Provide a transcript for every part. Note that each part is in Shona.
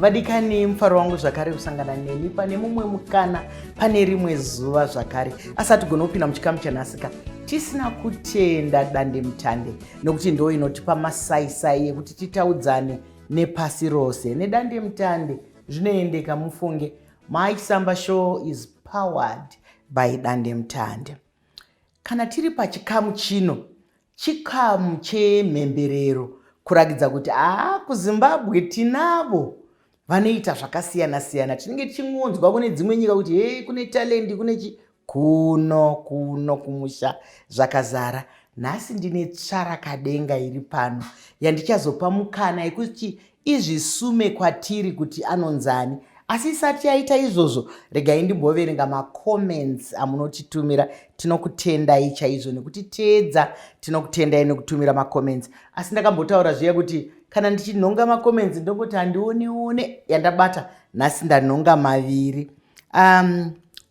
vadikani mufaro wangu zvakare kusangana nemi pane mumwe mukana pane rimwe zuva zvakare asi hatigone kupinda muchikamu chanhasika tisina kutenda dande mutande nokuti ndo inotipa masaisai ekuti titaudzane nepasi rose nedande mutande zvinoendeka mufunge mysamba show is powered by dande mutande Kana tiri pachikamu chino, chikamu chemhemberero, kurakidza kuti haa kuzimbabwe tinavo vanoita zvakasiyana-siyana tinenge tichingonzwa kune dzimwe nyika kuti hei kune talendi kune chi kuno kuno kumusha zvakazara nhasi ndine tsvarakadenga iri pano yandichazopa mukana yekuti Izvisume kwatiri kuti anonzani asi isati yaita izvozvo regai ndimboverenga macomments amunotitumira tinokutendai chaizvo nekutiteedza tinokutendai nekutumira macomments asi ndakambotaura zviya kuti kana ndichinhonga macomments ndongoti handioneone yandabata nhasi ndanhonga maviri um,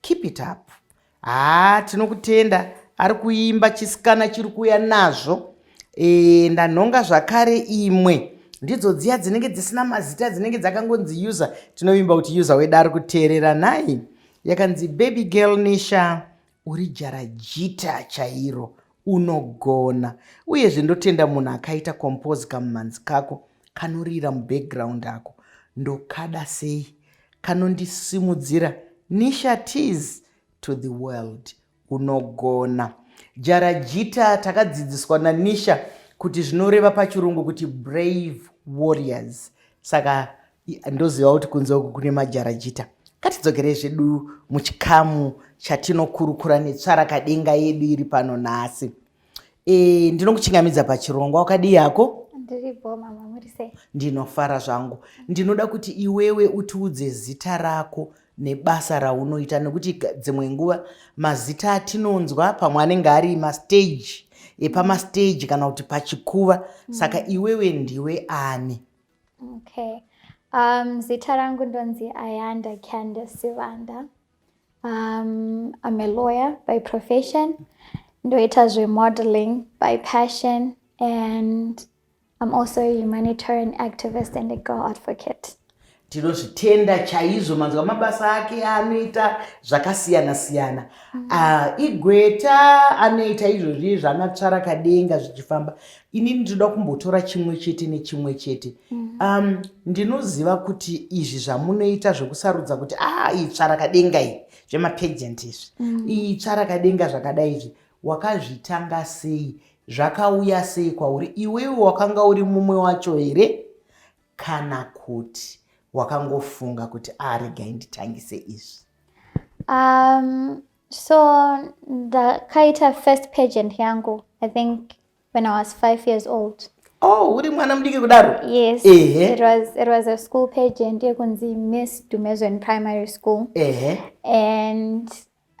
Keep it up. Haa tinokutenda ari kuimba chisikana chiri kuuya nazvo e, ndanhonga zvakare imwe ndidzo dziya dzinenge dzisina mazita dzinenge dzakangonzi user tinovimba kuti user wedu ari kuteerera nhai yakanzi baby girl nisha uri jarajita chairo Unogona. Uyezve ndotenda munhu akaita compose kamumhanzi kako kanorira mubackground ako. Ndokada sei. Kanondisimudzira Nisha Tees to the world. Unogona. Jarajita takadzidziswa naNisha kuti zvinoreva pachirungu kuti brave warriors. Saka ndoziva kuti kunze uku kune majarajita katidzokerei zvedu muchikamu chatinokurukura netsvarakadenga yedu iri pano nhasi e, ndinokuchingamidza pachirongwa wakadii yako ndinofara zvangu ndinoda kuti iwewe utiudze zita rako nebasa raunoita nekuti dzimwe nguva mazita atinonzwa pamwe anenge ari masteji epamasteji kana kuti pachikuva saka iwewe ndiwe ani Okay. Um, zita rangu ndonzi Ayanda Candace Sivanda. Um, I'm a lawyer by profession. Ndoita zvemodeling by passion and I'm also a humanitarian activist and a girl advocate. tinozvitenda chaizvo manzwa mabasa ake anoita zvakasiyana siyana mm. uh, igweta anoita izvozvi zvanatsvara kadenga zvichifamba inini ndinoda kumbotora chimwe chete nechimwe chete mhm. um, ndinoziva kuti izvi zvamunoita zvekusarudza kuti a ah, itsva rakadenga iyi zvemapagent izvi mhm. itsva rakadenga zvakadai izvi wakazvitanga sei zvakauya sei kwauri iwewe wakanga uri mumwe wacho here kana kuti wakangofunga kuti aregai ah, nditangise izvi um, so ndakaita first pagent yangu i think when I was five years old. Oh, uri mwana mudiki kudaro? Yes. Ehe. It was it was a school pageant yekunzi Miss Dumezweni Primary School. Ehe. And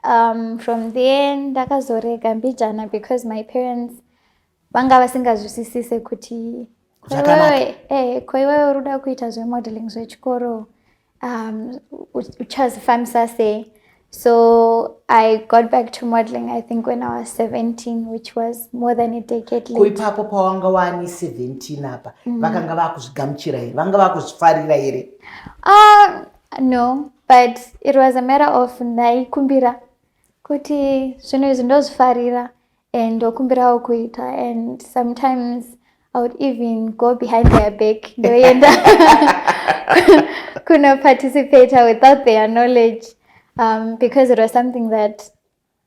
um, from there ndakazorega mbijana because my parents vanga vasingazwisisise kuti ko iwewe eh, uri kuda kuita zvemodeling zvechikoro um, uchazifambisa sei so i got back to modeling i think when i was 17 which was more than a decade late ipapo pawanga wani 17 apa mm. vakanga vakuzvigamuchira here vanga vakuzvifarira here uh, no but it was a matter of ndaikumbira kuti zvinhu izvi ndozvifarira and ndokumbirawo kuita and sometimes i would even go behind their back ndoenda kunoparticipata without their knowledge um, because it was something that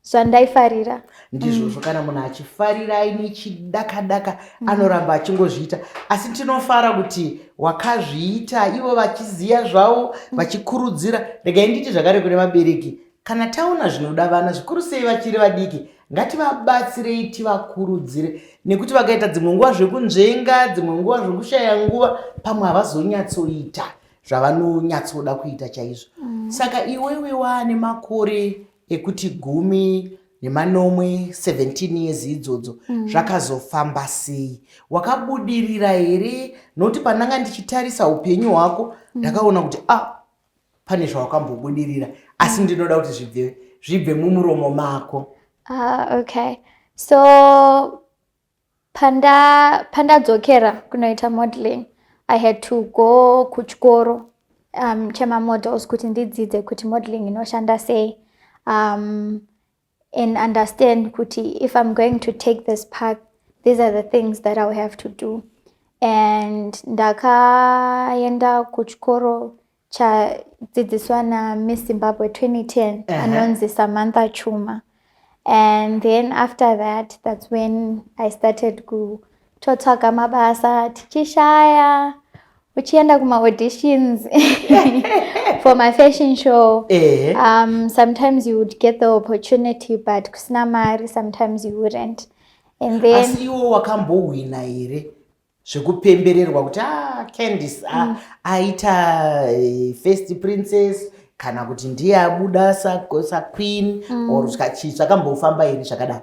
zvandaifarira ndizvozvo mm. kana munhu achifarira aine chidakadaka mm. anoramba achingozviita asi tinofara kuti wakazviita ivo vachiziva zvavo mm. vachikurudzira regai nditi zvakare kune vabereki Kana taona zvinoda vana zvikuru sei vachiri vadiki, ngativabatsirei tivakurudzire nekuti vakaita dzimwe nguva zvekunzvenga, dzimwe nguva zvekushaya nguva, pamwe havazonyatsoita zvavanonyatsoda kuita chaizvo. Mm. Saka iwewe waane makore ekuti gumi nemanomwe 17 years idzodzo mm. zvakazofamba mm. sei wakabudirira here nokuti pandanga ndichitarisa upenyu hwako mm. ndakaona kuti ah pane zvawakambobudirira asi ndinoda kuti zvibve zvibve mumuromo mako ah, okay so pandadzokera panda kunoita modeling i had to go kuchikoro um, chemamodels kuti ndidzidze kuti modeling inoshanda sei um, and understand kuti if i'm going to take this path these are the things that iwill have to do and ndakaenda kuchikoro chadzidziswa namiss zimbabwe 2010 uh -huh. anonzi samantha chuma and then after that that's when i started ku totsvaga mabasa tichishaya uchienda kumaauditions for my fashion show eh. um, sometimes you would get the opportunity but kusina mari sometimes you wouldn't and then asi iwo wakambohwina here zvekupembererwa kuti ah, candice ah, mm. aita eh, first princess kana kuti ndiye abuda saqueen mm. or chii zvakambofamba here zvakadaro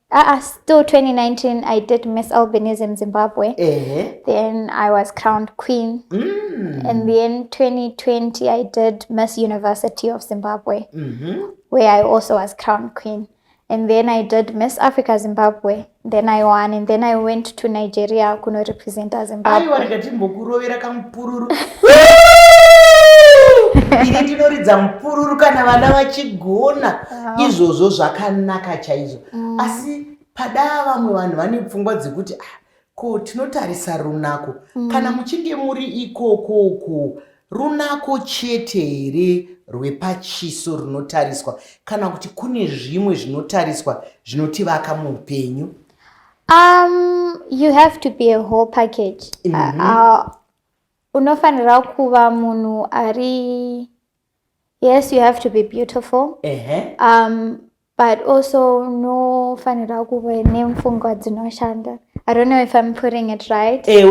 Uh, still 2019, I did Miss Albinism Zimbabwe. Uh -huh. Then I was crowned queen. Mm. And then 2020, I did Miss University of Zimbabwe, mm -hmm. where I also was crowned queen. And then I did Miss Africa Zimbabwe. Then I won. And then I went to Nigeria kuno represent Zimbabwe. Aiwa ndikatimbokurovera kamupururu. Ini ndinoridza mupururu kana vana vachigona. ah. izvozvo zvakanaka chaizvo mm. asi padaa vamwe vanhu vane pfungwa dzekuti ah, ko tinotarisa runako mm. kana muchinge muri ikokoko runako chete here rwepachiso runotariswa kana kuti kune zvimwe zvinotariswa zvinotivaka muupenyu um, you have to be a whole package mm -hmm. uh, uh, unofanira kuva munhu ari yes you have to be beautiful um, but also unofanira kuve nemfungwa dzinoshanda i don't know if i'm putting it right eh,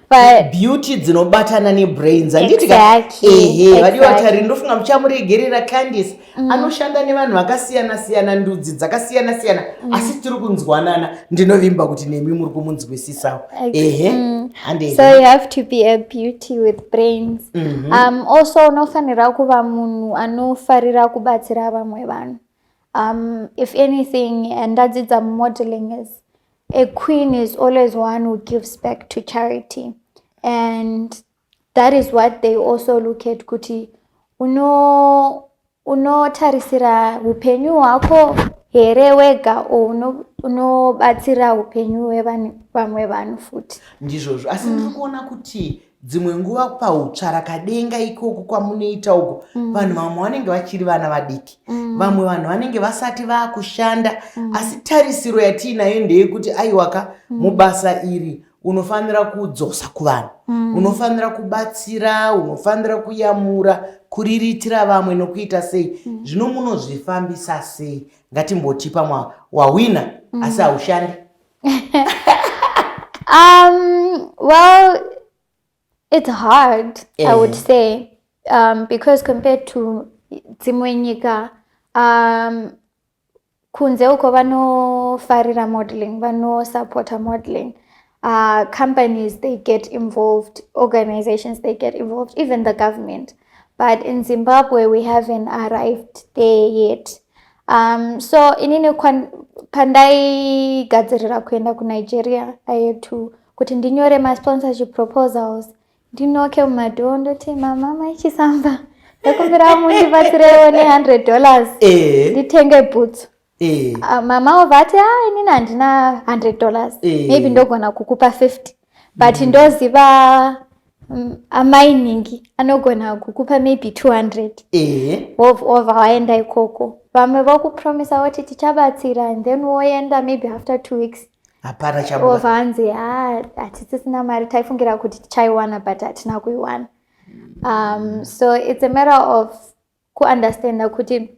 but beauty dzinobatana nebrains anditi exactly, exactly. vadiwa tari ndofunga muchamuregerera candice Mm. anoshanda nevanhu vakasiyana siyana ndudzi dzakasiyana siyana mm. asi tiri kunzwanana ndinovimba kuti nemi muri kumunzwisisawo ehe mm. so you have to be a beauty with brains mm -hmm. um, also unofanira kuva munhu anofarira kubatsira vamwe vanhu um, if anything ndadzidza mumodeling is a queen is always one who gives back to charity and That is what they also look at kuti uno unotarisira upenyu hwako here wega or uno unobatsira upenyu hwevamwe vanhu futi ndizvozvo asi ndiri mm. kuona kuti dzimwe nguva pautsvarakadenga ikoku kwamunoita uko mm. vanhu vamwe vanenge vachiri vana vadiki mm. vamwe vanhu vanenge vasati vakushanda mm. asi tarisiro yatiinayo ndeyekuti aiwaka mm. mubasa iri unofanira kudzosa kuvanhu mm. unofanira kubatsira unofanira kuyamura kuriritira vamwe nokuita sei mm. zvino munozvifambisa sei ngatimboti pamwe wahwina mm. asi haushandi um, well it's hard eh. i would eh. say um, because compared to dzimwe nyika um, Kunze uko vanofarira modeling, vanosupporta modeling. Uh, companies, they get involved, organizations, they get involved, even the government. But in Zimbabwe, we haven't arrived there yet. Um, so inini pandaigadzirira kuenda kunigeria i had to kuti ndinyore masponsorship proposals ndinoke mumadhoo ndoti mama mai chisamba ndakumbira mundibatsirewo ne100 dollars eh. nditenge bhutsu eh. ah, mama ova ati a ah, inini handina 100 dollars eh. maybe ndogona kukupa 50 but mm. ndoziva mm, amai ningi anogona kukupa maybe 200 wova waenda ikoko vamwe vokupromisa voti tichabatsira and then woenda maybe after two weeks hapana chabuda obva anzi ha hatisisina mari taifungira kuti tichaiwana but hatina kuiwana um, so it's a matter of kuunderstanda kuti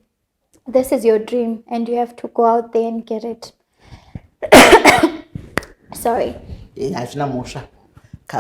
this is your dream and you have to go out there and get it sorry hazvina mhosva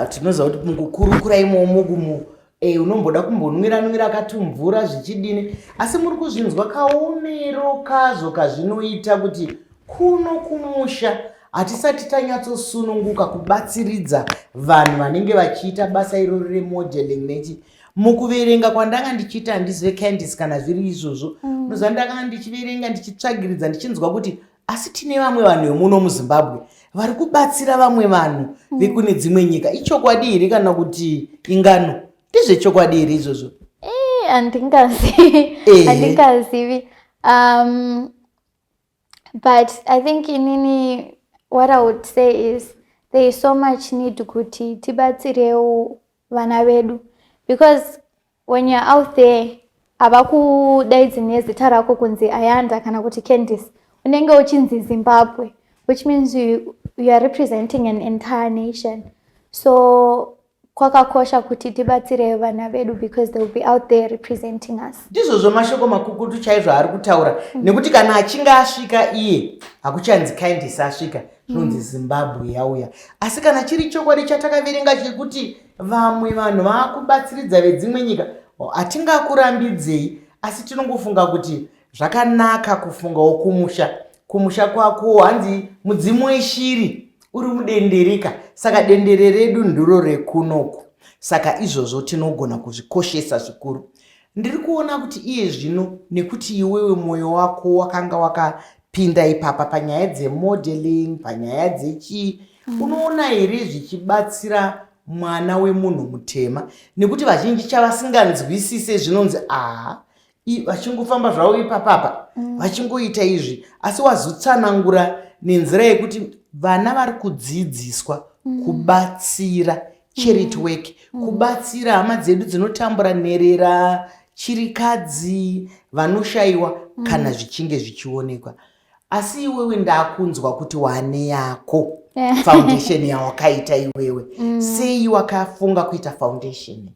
tinoziva kuti mukukurukura imomo Eyi unomboda kumbonwira nwira katumvura zvichidini asi muri kuzvinzwa kaomero kazvo kazvinoita kuti kuno kumusha hatisati tanyatsosununguka kubatsiridza vanhu vanenge vachiita basa irori remodeling nechi mukuverenga kwandanga ndichiita handizive candice kana zviri izvozvo mm. noziva ndakanga ndichiverenga ndichitsvagiridza ndichinzwa kuti asi tine vamwe vanhu vemuno muzimbabwe vari kubatsira vamwe vanhu mm. vekune dzimwe nyika ichokwadi here kana kuti ingano ndezvechokwadi here izvozvo eh, handingazivi um, but i think inini what i would say is there is so much need kuti tibatsirewo vana vedu because When you're out there havakudaidzi nezita rako kunzi Ayanda kana kuti Candice unenge uchinzi Zimbabwe which means you, you are representing an entire nation so kwakakosha kuti tibatsire vana vedu because they will be out there representing us ndizvozvo mashoko makukutu chaizvo aari kutaura mm. nekuti kana achinge asvika iye hakuchanzi kindis asvika zvinonzi mm. zimbabwe yauya asi kana chiri chokwadi chatakaverenga chekuti vamwe vanhu vakubatsiridza vedzimwe nyika hatingakurambidzei asi tinongofunga kuti zvakanaka kufungawo kumusha kumusha kwako hanzi mudzimu weshiri uri mudendereka saka dendere redu ndiro rekunoku saka izvozvo tinogona kuzvikoshesa zvikuru ndiri kuona kuti iye zvino nekuti iwewe mwoyo wako wakanga wakapinda ipapa panyaya dzemodeling panyaya dzechii mm. unoona here zvichibatsira mwana wemunhu mutema nekuti vazhinji chavasinganzwisise zvinonzi aha vachingofamba zvavo ipapapa mm. vachingoita izvi asi wazotsanangura nenzira yekuti vana vari kudzidziswa mm. kubatsira charity mm. work mm. kubatsira hama dzedu dzinotambura nherera chirikadzi vanoshayiwa mm. kana zvichinge zvichionekwa asi iwewe ndakunzwa kuti wane yako eh. foundation yawakaita iwewe mm. sei wakafunga kuita foundation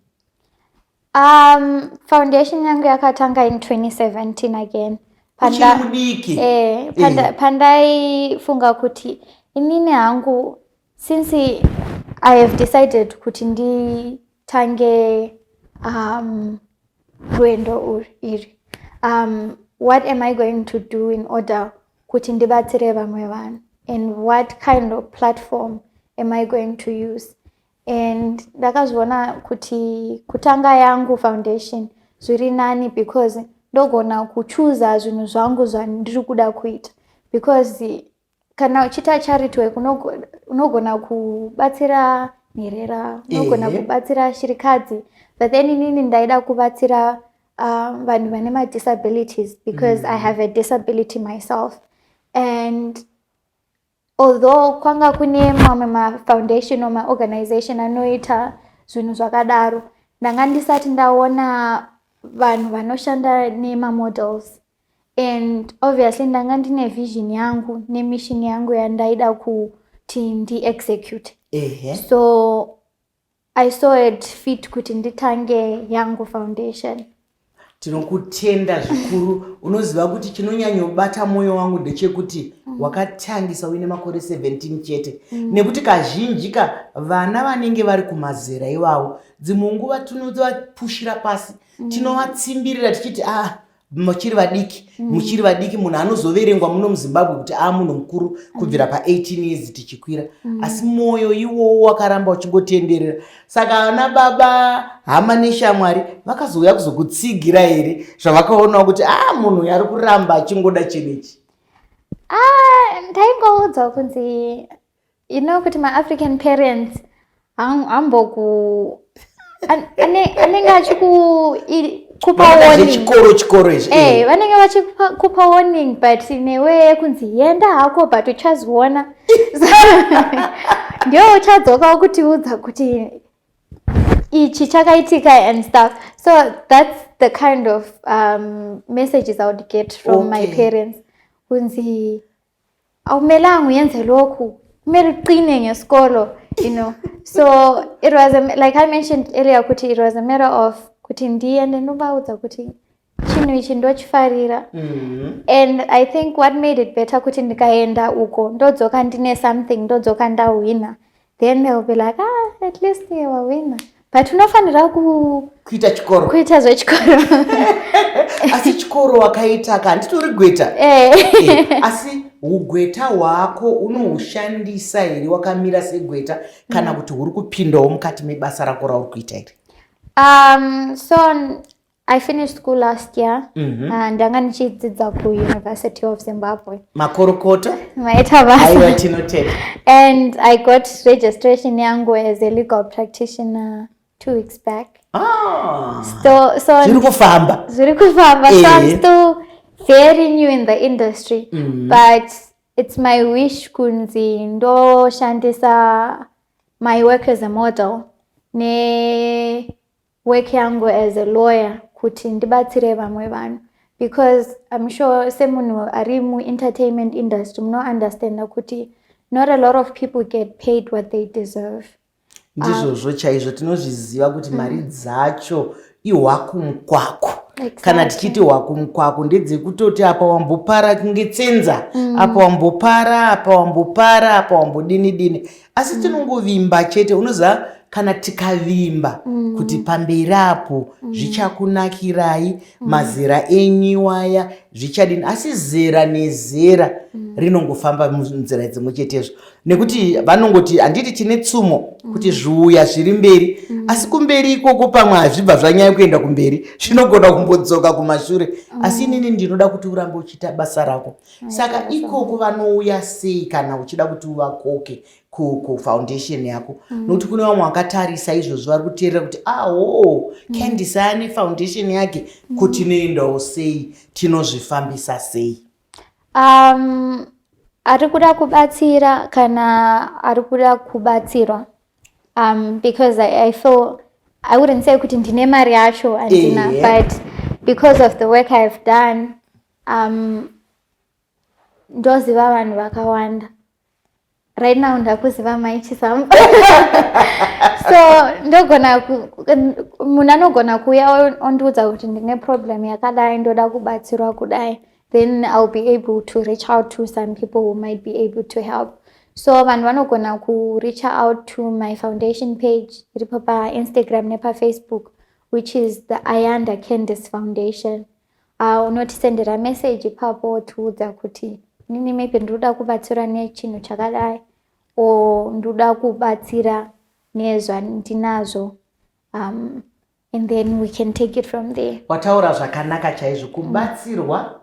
um, foundation yangu yakatanga in 2017 again pandaifunga eh, eh. pandai kuti inini hangu Since I have decided kuti nditange um, rwendo iri um, what am I going to do in order kuti ndibatsire vamwe vanhu and what kind of platform am I going to use and ndakazviona kuti kutanga yangu foundation zviri nani because ndogona kuchuza zvinhu zvangu zvandiri kuda kuita because kana uchiita charity work unogona kubatsira nherera unogona kubatsira shirikadzi but then inini ndaida kubatsira ah, vanhu uh, vane madisabilities because mm. i have a disability myself and although kwanga kune mamwe mafoundation or maorganization anoita zvinhu zvakadaro ndanga ndisati ndaona vanhu vanoshanda nemamodels and obviously ndanga ndine vision yangu nemission yangu yandaida kuti ndiexecute so i saw it fit kuti nditange yangu foundation tinokutenda zvikuru unoziva kuti chinonyanyobata mwoyo wangu ndechekuti mm. wakatangisa uine makore 17 chete mm. nekuti kazhinji ka vana vanenge vari kumazera iwawo dzimwe nguva tinovapushira pasi mm. tinovatsimbirira tichiti ah muchiri vadiki mm. muchiri vadiki munhu anozoverengwa muno muzimbabwe kuti aa munhu mukuru mm. kubvira pa18 years tichikwira mm. asi mwoyo iwowo wakaramba uchingotenderera saka ana baba hama neshamwari vakazouya kuzokutsigira here zvavakaonawo kuti aa munhu uyo ari kuramba achingoda chenechi ah, ndaingoudza kunzi you know kuti maafrican parents hamboku anenge achikupa chikoro chikoro izvi eh, eh. vanenge vachikupa warning but newe yekunzi yenda hako but uchaziona ndio uchadzoka ukutiudza kuti ichi chakaitika and stuff so that's the kind of um, messages i would get from okay. my parents kunzi awumelanga uyenze lokhu kumele uqine ngesikolo you know so it was a, like i mentioned earlier kuti it was a matter of kuti ndiye ndinovaudza kuti chinhu ichi ndochifarira mm-hmm. and i think what made it better kuti ndikaenda uko ndodzoka ndine something ndodzoka ndahwina then they'll be like ah at least they were winner but unofanira kuita chikoro kuita zvechikoro asi chikoro wakaita ka handitori gweta eh. Eh, asi ugweta hwako unohushandisa here wakamira segweta kana mm. kuti huri kupindawo mukati mebasa rako rauri kuita here um, so I finished school last year mm -hmm. and ndanga ndichidzidza ku University of Zimbabwe. Makorokota? Maita basa. Aiwa tinotenda. And I got registration yangu as a legal practitioner two weeks back. Ah. So so zviri kufamba. Zviri kufamba. So I'm eh. still very new in the industry mm -hmm. but it's my wish kunzi ndoshandisa my work as a model ne work yangu as a lawyer kuti ndibatsire vamwe vanhu because im sure semunhu ari muentertainment industry munounderstanda kuti not a lot of people get paid what they deserve ndizvozvo um, chaizvo tinozviziva kuti mm. mari dzacho ihwakumukwaku exactly. kana tichiti hwakumukwaku ndedzekutoti apa wambopara kunge tsenza mm. apa wambopara apa wambopara apa wambodini dini asi mm. tinongovimba chete unoziva kana tikavimba mm. kuti pamberi apo mm. zvichakunakirai mm. mazera enyiwaya zvichadini asi zera nezera mm. rinongofamba munzira dzimwe chetezvo nekuti vanongoti handiti tine tsumo mm. kuti zviuya zviri mberi mm. asi kumberi ikoko pamwe hazvibva zvanyaya kuenda kumberi zvinogona kumbodzoka kumashure mm. asi inini ndinoda kuti urambe uchiita basa rako saka ikoko vanouya sei kana uchida kuti uvakoke kufoundation yako mm. nokuti kune vamwe vakatarisa izvozvo vari kuteerera kuti aho ah, candis mm. ane foundation yake mm. kuti noendawo sei tinozvifambisa sei um, ari kuda kubatsira kana ari kuda kubatsirwa um, because I, I feel i wouldn't say kuti ndine mari yacho andina yeah. but because of the work i have done um, ndoziva vanhu vakawanda right now ndakuziva mai chisamu so ndogona munhu anogona kuuya ondiudza kuti ndine problem yakadai ndoda kubatsirwa kudai then iwill be able to reach out to some people who might be able to help so vanhu vanogona kureach out to my foundation page iripo painstagram nepafacebook which is the ayanda candice foundation Ah, unotisendera message ipapo wotiudza kuti nini maybe ndinoda kubatsira nechinhu chakadai or ndoda kubatsira nezvandinazvo um, and then we can take it from there wataura zvakanaka chaizvo kubatsirwa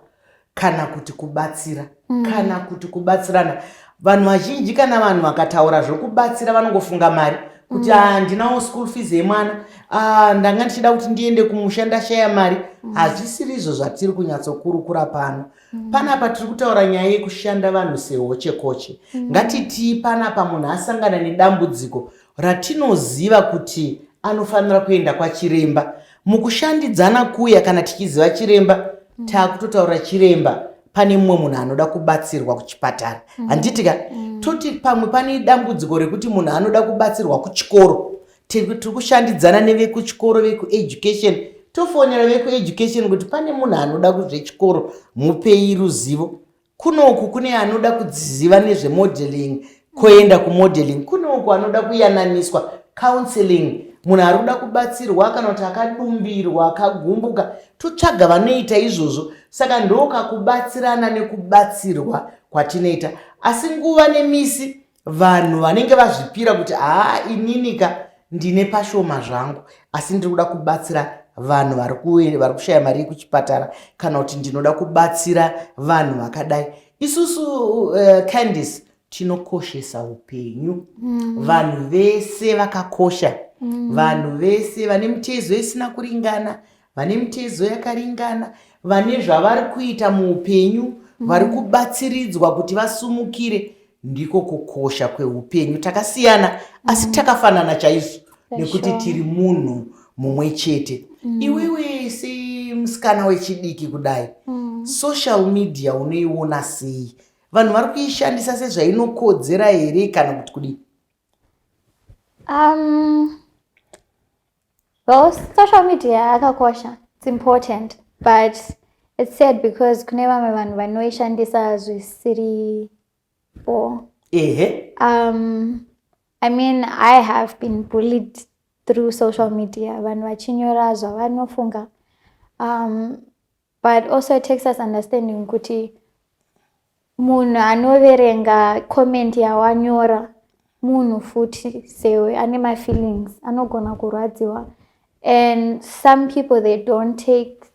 kana kuti kubatsira mm. kana kuti kubatsirana vanhu vazhinji kana vanhu vakataura zvokubatsira vanongofunga mari kuti mm. handinawo mm. school fees yemwana ah, ndanga ndichida kuti ndiende kumusha ndashaya mari mm. hazvisiri izvo zvatiri kunyatsokurukura pano mm. panapa tiri kutaura nyaya yekushanda vanhu sehochekoche mm. ngatitii panapa munhu asangana nedambudziko ratinoziva kuti anofanira kuenda kwachiremba mukushandidzana kuya kana tichiziva chiremba mm. taakutotaura chiremba pane mumwe munhu anoda kubatsirwa kuchipatara mm. handiti ka mm. toti pamwe pane dambudziko rekuti munhu anoda kubatsirwa kuchikoro tiri kushandidzana nevekuchikoro vekueducation tofonera vekueducation kuti pane munhu anoda kuzvechikoro mupei ruzivo kunoku kune anoda kudziziva nezvemodeling koenda kumodeling kune uko anoda kuyananiswa counseling munhu ari kuda kubatsirwa kana kuti akadumbirwa akagumbuka totsvaga vanoita izvozvo saka ndoka kubatsirana nekubatsirwa kwatinoita asi nguva nemisi vanhu vanenge vazvipira kuti haa ininika ndine pashoma zvangu asi ndiri kuda kubatsira vanhu vari kushaya mari yekuchipatara kana kuti ndinoda kubatsira vanhu vakadai isusu uh, candice tinokoshesa upenyu mm. vanhu vese vakakosha mm. vanhu vese vane mitezo isina kuringana vane mitezo yakaringana vane zvavari kuita muupenyu mm. vari kubatsiridzwa kuti vasumukire ndiko kukosha kweupenyu takasiyana asi mm. takafanana chaizvo nekuti tiri munhu mumwe chete mm. iwewe semusikana wechidiki kudai mm. social media unoiona sei vanhu vari kuishandisa sezvainokodzera here kana kuti kudii um, well social media yakakosha its important but its sad because kune vamwe vanhu vanoishandisa zvisiri before. Ehe. Um, I mean, I have been bullied through social media. Vanhu vachinyora zvavanofunga. Um, but also it takes us understanding kuti munhu anoverenga comment yawanyora munhu futi sewe ane mafeelings anogona kurwadziwa and some people they don't take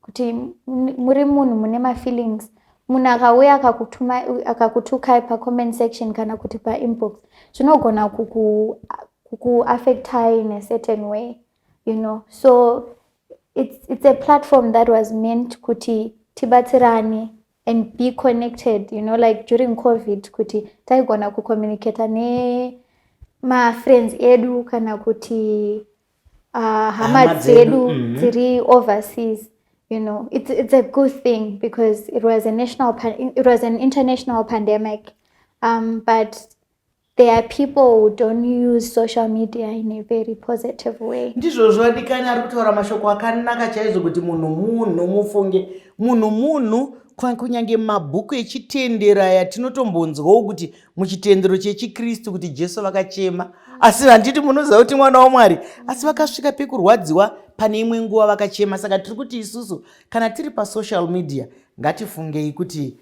kuti muri munhu mune mafeelings munhu akauya akakutukai pacomment section kana kuti painbox zvinogona kukuaffectai in a certain way you know so it's, it's a platform that was meant kuti tibatsirane and be connected you know like during covid kuti taigona kucommunicata nemafriends edu kana kuti uh, hama dzedu mm-hmm. dziri overseas you know it's, it's a good thing because it was a national it was an international pandemic um, but there are people who don't use social media in a very positive way ndizvo zvodikani ari kutaura mashoko akanaka chaizvo kuti munhu munhu mufunge munhu munhu kunyange mabhuku echitendero aya tinotombonzwawo kuti muchitendero chechikristu kuti jesu vakachema asi handiti munoziva kuti mwana wamwari asi vakasvika pekurwadziwa pane imwe nguva vakachema saka tiri kuti isusu kana tiri pasocial media ngatifungei kuti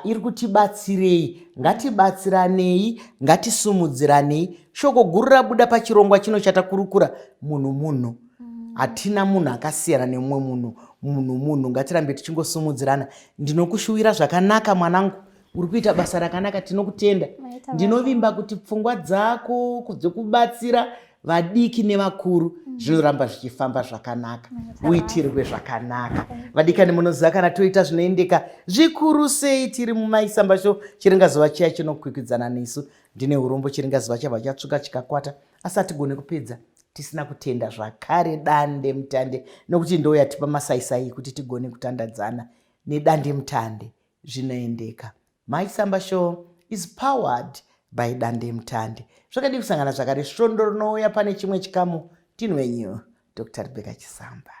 iri kutibatsirei ngatibatsiranei ngatisumudziranei shoko guru rabuda pachirongwa chino chatakurukura munhu munhu mm. hatina munhu akasiyana nemumwe munhu munhu munhu ngatirambe tichingosumudzirana ndinokushuwira zvakanaka mwanangu uri kuita basa rakanaka tinokutenda ndinovimba kuti pfungwa dzako dzekubatsira vadiki nevakuru mm. zvinoramba zvichifamba zvakanaka uitirwe zvakanaka vadikani munoziva kana toita zvinoendeka zvikuru sei tiri mumaisamba sho chiringazuva chiya chinokwikwidzana nesu ndine urombo chiringazuva chabva chatsvuka chikakwata asi hatigone kupedza tisina kutenda zvakare dande mutande nokuti ndo yatipa masaisai kuti tigone kutandadzana nedande mutande Zvinoendeka. Mai Samba Show is powered by Dandemutande. Zvakadii kusangana zvakare svondo rinouya pane chimwe chikamu ndini wenyu Dr. Rebecca Chisamba.